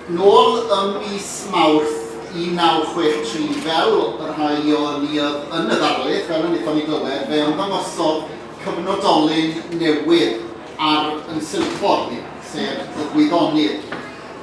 Nôl ym mis Mawrth 1963, fel y rhai o ni oedd yn y ddarlith, fel y wnaethon ni glywed, fe ymddangosodd cyfnodolyn newydd ar ein silffordd ni, sef y Gwyddonydd.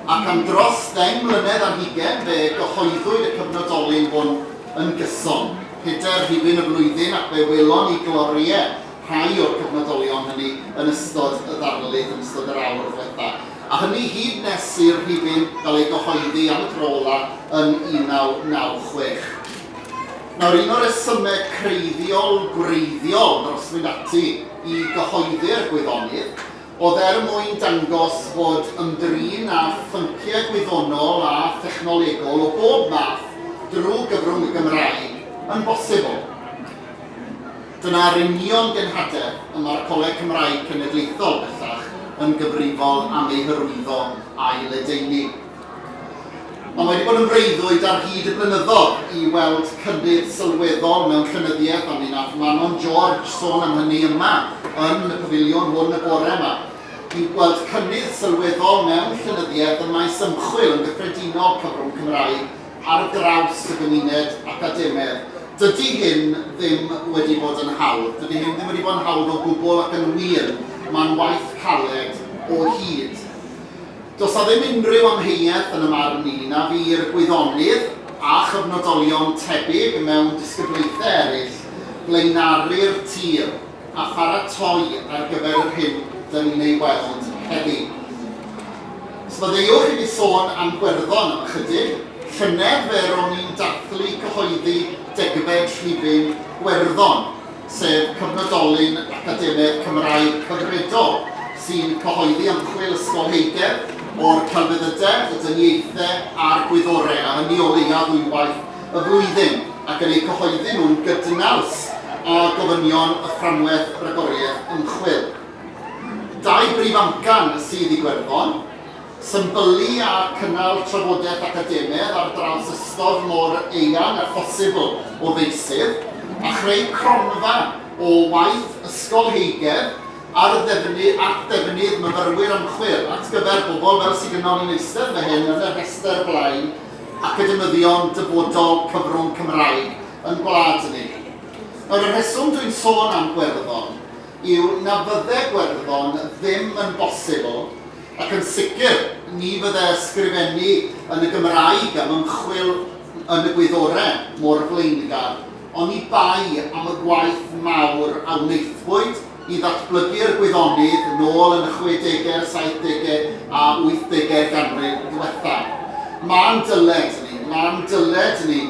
Ac am dros ddeng mlynedd ar hugain, fe gyhoeddwyd y cyfnodolyn hwn yn gyson. Pedair rhifyn y flwyddyn, ac fe welon ni gloriau rhai o'r cyfnodolion hynny yn ystod y ddarlith, yn ystod yr awr ddwetha. a hynny hyd nes i'r rhifyn gael ei gyhoeddi am y tro ola' yn 1996. Nawr, un o resyme creiddiol gwreiddiol dros fynd ati i gyhoeddi'r gwyddonydd oedd er mwyn dangos fod ymdrin â phynciau gwyddonol a thechnolegol o bob math drwy gyfrwng y Gymraeg yn bosibl. Dyna'r union genhadeb y mae'r Coleg Cymraeg Cenedlaethol bellach yn gyfrifol am ei hyrwyddo a'i ledaenu. Ond mae wedi bod yn freuddwyd ar hyd y blynyddoedd i weld cynnydd sylweddol mewn llenyddiaeth a mi wnaeth Manon George sôn am hynny yma yn y pafiliwn hwn y bore yma. Ni'n gweld cynnydd sylweddol mewn llenyddiaeth ym maes ymchwil yn gyffredinol, cyfrwng Cymraeg, ar draws y gymuned academaidd. Dydy hyn ddim wedi bod yn hawdd. Dydy hyn ddim wedi bod yn hawdd o gwbl ac yn wir, mae'n waith caled o hyd. Does 'na ddim unrhyw amheuaeth yn y marn i na fu'r gwyddonydd a chyfnodolion tebyg mewn disgyblaethau eraill flaenori'r tir. a pharatoi ar gyfer yr hyn dŷn ni'n ei weld heddi. Sfaddeuwch i mi sôn am Gwerddon am ychydig. Llynedd fe ro'n i'n dathlu cyhoeddi degfed rhifyn Gwerddon, sef cyfnodolyn academaidd Cymraeg cyfredol sy'n cyhoeddi ymchwil ysgolheigedd o'r celfyddydau, y dyniaethau a'r gwyddorau, a hynny o leiaf ddwywaith y flwyddyn ac yn eu cyhoeddi nhw'n gydnaws â gofynion y Fframwaith Ragoriaeth Ymchwil. Dau brif amcan sydd Iwerddon, symbylu a cynnal trafodaeth academaidd ar draws ystod mor eang â phosibl o feysydd, a chreu cronfa o waith ysgolheigedd ar ddefny at ddefnydd myfyrwyr ymchwil at gyfer pobl fel sydd gynnon ni'n eistedd fan hyn yn y rhestr blaen academyddion dyfodol cyfrwng Cymraeg yn gwlad ni. Yr rheswm dwi'n sôn am Gwerddon yw na fydde Gwerddon ddim yn bosibl, ac yn sicr ni fydde ysgrifennu yn y Gymraeg am ymchwil yn y gwyddorau mor flaengar, oni bai am y gwaith mawr a wnaethpwyd i ddatblygu'r gwyddonydd nôl yn y chwedegau'r saithdegau a wythdegau'r ganrif ddiwethaf. Ma'n dyled ni, ma'n dyled ni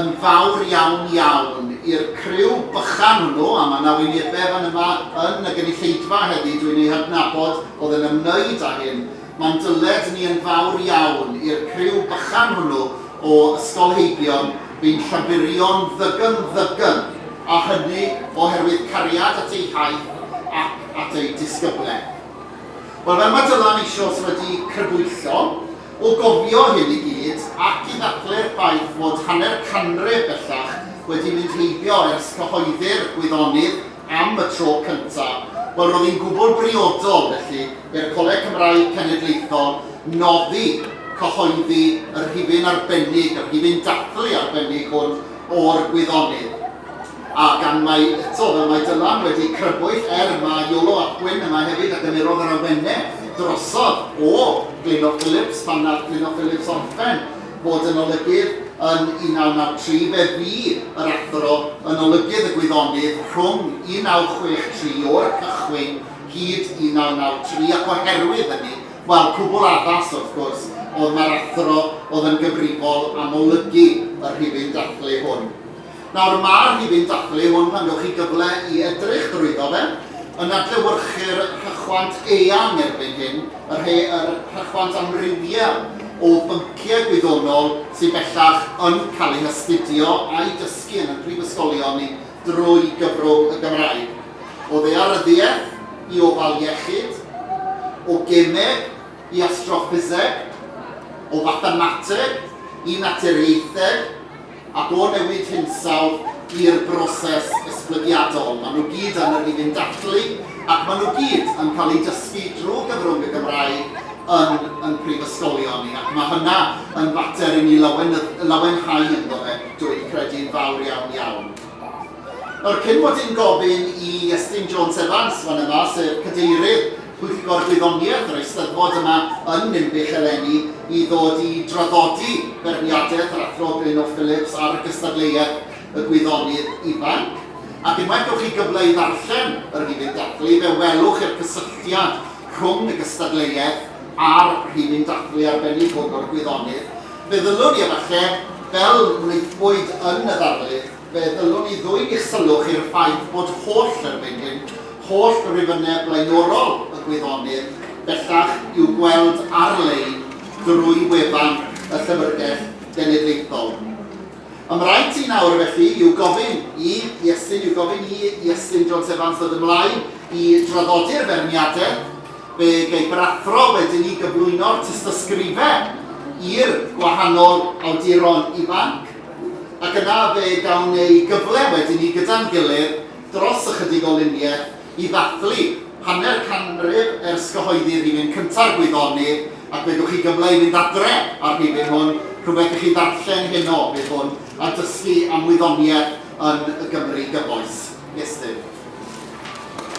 yn fawr iawn iawn i'r criw bychan hwnnw, a ma' 'na wynebau fan yma yn y gynulleidfa heddi dwi'n eu hadnabod oedd yn ymwneud â hyn, Mae'n dyled ni yn fawr iawn i'r criw bychan hwnnw o ysgolheigion fu'n Llaburion ddygym ddygym, a hynny oherwydd cariad at eu hiaith ac at eu disgybledd. Wel, fel mae Dylan eisioes wedi crybwyllo, o gofio hyn i gyd, ac i ddathlu'r ffaith fod hanner canrif bellach wedi mynd heibio ers cyhoeddi'r gwyddonydd, am y tro cyntaf, wel roedd hi'n gwbl briodol felly i'r Coleg Cymraeg Cenedlaethol noddi, cyhoeddi y rhifyn arbennig, y rhifyn dathlu arbennig hwn o'r gwyddonydd. A gan mai eto, fel mae Dylan wedi crybwyll, er mae Iolo ap Gwyn yma hefyd a gymerodd yr awenau drosodd o Glynno Phillips pan wnaeth Glynno Phillips orffen bod yn olygydd yn 1993, fe fu yr Athro yn olygydd y Gwyddonydd rhwng 1963 o'r cychwyn hyd 1993 ac oherwydd hynny, wel, cwbl addas, wrth gwrs, o'dd mae'r Athro o'dd yn gyfrifol am olygu y rhifyn dathlu hwn. Nawr, mae'r rhifyn dathlu hwn, pan gewch chi gyfle i edrych drwyddo fe, yn adlewyrchu'r rhychwant eang erbyn hyn, y rhe- yr rhychwant amrywiol o bynciau gwyddonol sydd bellach yn cael eu hastudio a'u dysgu yn ein prifysgolion ni drwy gyfrwng y Gymraeg, o ddaearyddiaeth i ofal iechyd, o gemeg i astroffiseg, o fathemateg i naturiaetheg. a bod newid hinsawdd i'r broses esblygiadol. Maen nhw gyd yn yr un dathlu ac maen nhw gyd yn cael eu dysgu drwy gyfrwng y Gymraeg yn ein prifysgolion ni ac mae hynna yn fater i ni lawenhau ynddo fe, dw i'n credu'n fawr iawn iawn. Nawr, cyn mod i'n gofyn i Iestyn Jones Evans fan yma, sef Cadeirydd Pwyllgor Gwyddoniaeth yr Eisteddfod yma yn Ninbych eleni i ddod i draddodi beirniadaeth yr Athro Glyno Phillips ar gystadleuaeth y gwyddonydd ifanc, ac unwaith gewch chi gyfle i ddarllen yr rhifyn dathlu fe welwch i'r cysylltiad rhwng y gystadleuaeth a'r rhifyn dathlu arbennig hwn o'r gwyddonydd, fe ddylwn i efallai, fel wnaethpwyd yn y ddarlith, Fe ddylwn i ddwyn eich sylw chi i'r ffaith bod holl arweinydd, holl rifynnau blaenorol y gwyddonydd, bellach, i'w gweld ar-lein drwy wefan y Llyfrgell Genedlaethol. Ym rhaid i nawr, felly, i'w gofyn i Iestyn, i'w gofyn i Iestyn Jones Evans ddod ymlaen i draddodi'r feirniadau, fe gei brathro wedyn ni gyflwyno'r tystysgrifau i'r gwahanol awduron ifanc. Ac yna fe gawn ei gyfle wedyn ni gyda'n gilydd dros ychydig o luniau i ddathlu hanner canrif ers cyhoeddi rhifyn cynta'r Gwyddonydd, ac fe gewch chi gyfle i fynd adre â'r rhifyn hwn, rhywbeth i chi ddarllen heno fydd hwn, a dysgu am wyddoniaeth yn y Gymru gyfoes. Estyn.